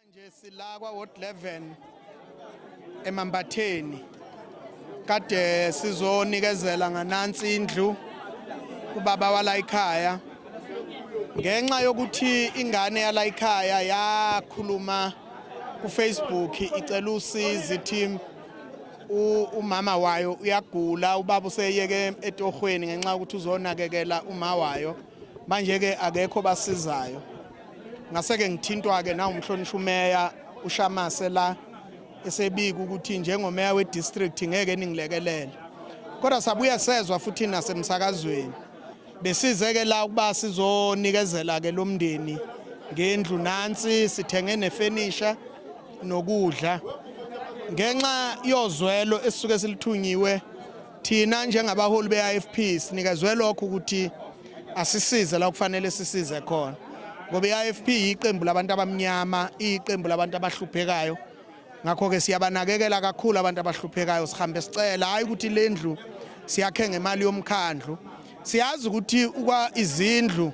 Manje sila kwa ward 11 eMambatheni kade sizonikezela nganansi indlu kubaba wala ikhaya ngenxa yokuthi ingane yala ikhaya yakhuluma kuFacebook icela usizi team umama wayo uyagula ubaba useyeke etohweni ngenxa ukuthi uzonakekela uma wayo Manje-ke akekho obasizayo. Ngase-ke ngithintwa-ke nawumhlonishwa umeya uShamase la esebika ukuthi njengomeya we-district ngeke ningilekelele. Kodwa sabuye sezwa futhi nasemsakazweni. Besize-ke la ukuba sizonikezela-ke lo mndeni ngendlu nansi sithenge nefenisha nokudla ngenxa yozwelo esisuke silithunyiwe Thina njengabaholi be-IFP sinikezwe lokho ukuthi asisize la kufanele sisize khona ngoba i-IFP yiqembu labantu abamnyama iyiqembu labantu abahluphekayo ngakho-ke siyabanakekela kakhulu abantu abahluphekayo sihambe sicela hhayi ukuthi le ndlu siyakhe ngemali yomkhandlu siyazi ukuthi izindlu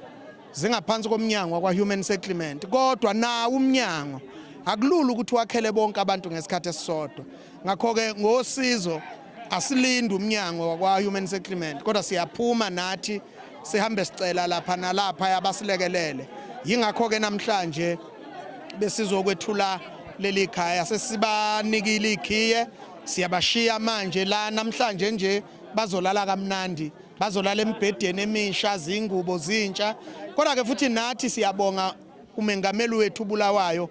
zingaphansi komnyango wakwa-human settlement kodwa nawo umnyango akulula ukuthi wakhele bonke abantu ngesikhathi esisodwa ngakho-ke ngosizo Asilindi umnyango wakwa-Human Settlement kodwa siyaphuma nathi sihambe sicela lapha nalapha abasilekelele yingakho-ke namhlanje besizokwethula leli khaya sesibanikile ikhiye siyabashiya manje la namhlanje nje bazolala kamnandi bazolala embhedeni emisha zingubo zintsha kodwa-ke futhi nathi siyabonga kumengameli wethu uBulawayo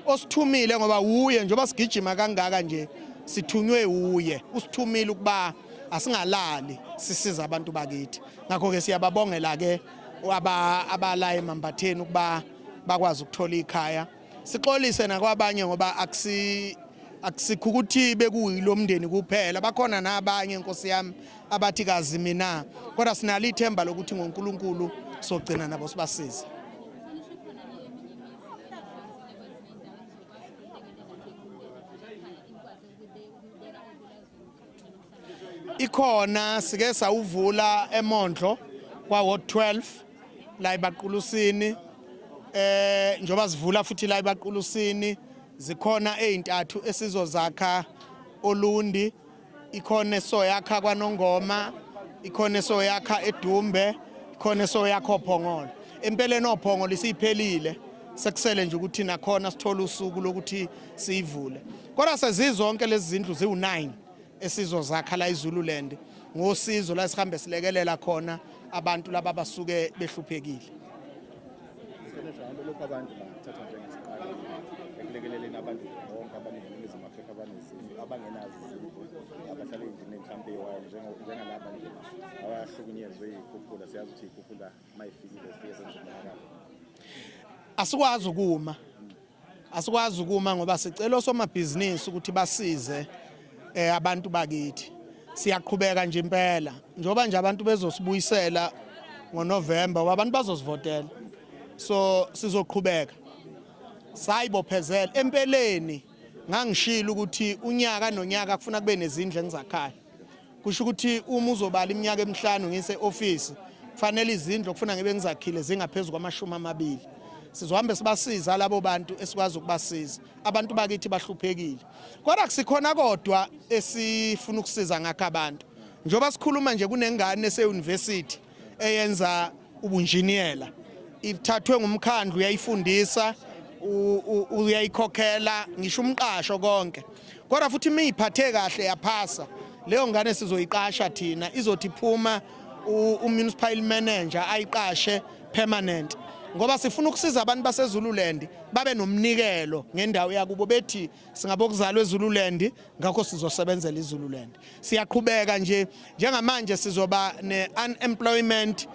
osithumile ngoba wuye njengoba sigijima kangaka nje sithunywe wuye usithumile ukuba asingalali sisiza abantu bakithi ngakho ke siyababongela ke abala emambatheni ukuba bakwazi ukuthola ikhaya sixolise nakwabanye ngoba akusi akusikho ukuthi bekuyilo mndeni kuphela bakhona nabanye nkosi yami abathi kazi mina kodwa sinalo ithemba lokuthi ngoNkulunkulu sogcina nabo sibasize ikhona sike sawuvula emondlo kwa ward 12 la ibaqulusini eh njoba sivula futhi la ibaqulusini zikhona ezintathu esizozakha olundi ikhona esoyakha kwanongoma ikhona esoyakha edumbe ikhona esoyakha ophongolo empeleni ophongolo isiphelile sekusele nje ukuthi nakhona sithole usuku lokuthi siyivule kodwa sezizonke lezi zindlu ziwu-9 esizozakha la izululand ngosizo la sihambe silekelela khona abantu laba basuke behluphekile Senesha hambe lokho abantu bathatha njengesiqalo ekulekeleleni abantu bonke abaningizimu Afrika abanezizwe abangenazo izindlu abahlala endlini mhlawumbe eyiwayo njengalaba nje abahlukunyezwe iy'khukhula siyazi ukuthi iy'khukhula uma ifikile zifike zenze umonakalo asikwazi ukuma Asikwazi ukuma ngoba sicela osomabhizinisi ukuthi basize eh, abantu bakithi. Siyaqhubeka nje impela njengoba nje abantu bezosibuyisela ngoNovember ngoba abantu bazosivotela. So sizoqhubeka. Sayibophezela empeleni ngangishilo ukuthi unyaka nonyaka kufuna kube nezindlu engizakhayo. kusho ukuthi uma uzobala iminyaka emihlanu ngise office kufanele izindlu okufuna ngibe ngizakhile zingaphezulu kwamashumi amabili sizohambe sibasiza labo bantu esikwazi ukubasiza abantu bakithi bahluphekile kodwa kusikhona kodwa esifuna ukusiza ngakho abantu njengoba sikhuluma nje kunengane eseuniversity eyenza ubunjiniyela ithathwe ngumkhandlu uyayifundisa uyayikhokhela ngisho umqasho konke kodwa futhi uma iyiphathe kahle yaphasa leyo ngane sizoyiqasha thina izothi phuma umunicipal manager ayiqashe permanent ngoba sifuna ukusiza abantu baseZululand babe nomnikelo ngendawo yakubo bethi singabokuzalwa eZululand ngakho sizosebenzela iZululand siyaqhubeka nje njengamanje sizoba ne unemployment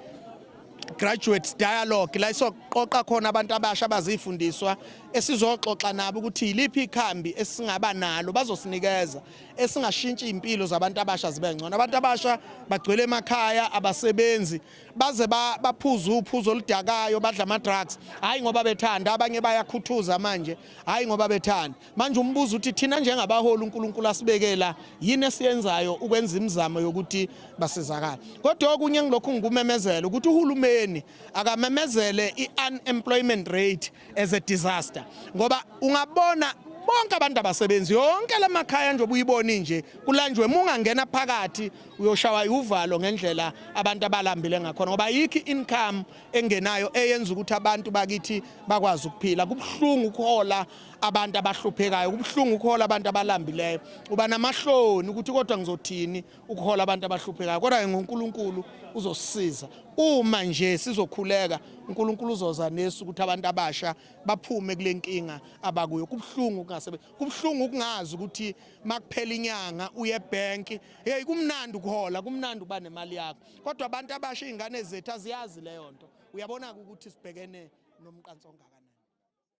graduates dialogue la isoqoqa khona abantu abasha abazifundiswa esizoxoxa nabo ukuthi yiliphi ikhambi esingaba nalo bazosinikeza esingashintshi impilo zabantu abasha zibe ngcono abantu abasha bagcwele emakhaya abasebenzi baze baphuza uphuzo oludakayo badla ama drugs hayi ngoba bethanda abanye bayakhuthuza manje hayi ngoba bethanda manje umbuzo uthi thina njengabaholi uNkulunkulu asibekela yini esiyenzayo ukwenza imizamo yokuthi basizakala kodwa okunye ngilokhu ngikumemezela ukuthi uhulumeni akamemezele i-unemployment rate as a disaster ngoba ungabona bonke abantu abasebenzi yonke lamakhaya nje obuyiboni nje kulanjwe mungangena phakathi uyoshawa uvalo ngendlela abantu abalambile ngakhona ngoba yikho income engenayo eyenza ukuthi abantu bakithi bakwazi ukuphila kubuhlungu ukuhola abantu abahluphekayo kubuhlungu ukuhola abantu abalambileyo uba namahloni ukuthi kodwa ngizothini ukuhola abantu abahluphekayo kodwa ke ngoNkulunkulu uzosisiza uma nje sizokhuleka uNkulunkulu uzoza nesu ukuthi abantu abasha baphume kule nkinga abakuyo kubuhlungu kungasebe kubuhlungu ukungazi ukuthi makuphela inyanga uye ebank hey kumnandi ukuhola kumnandi uba nemali yakho kodwa abantu abasha iy'ngane zethu aziyazi leyo nto uyabona-ke ukuthi sibhekene nomqanso ongakanani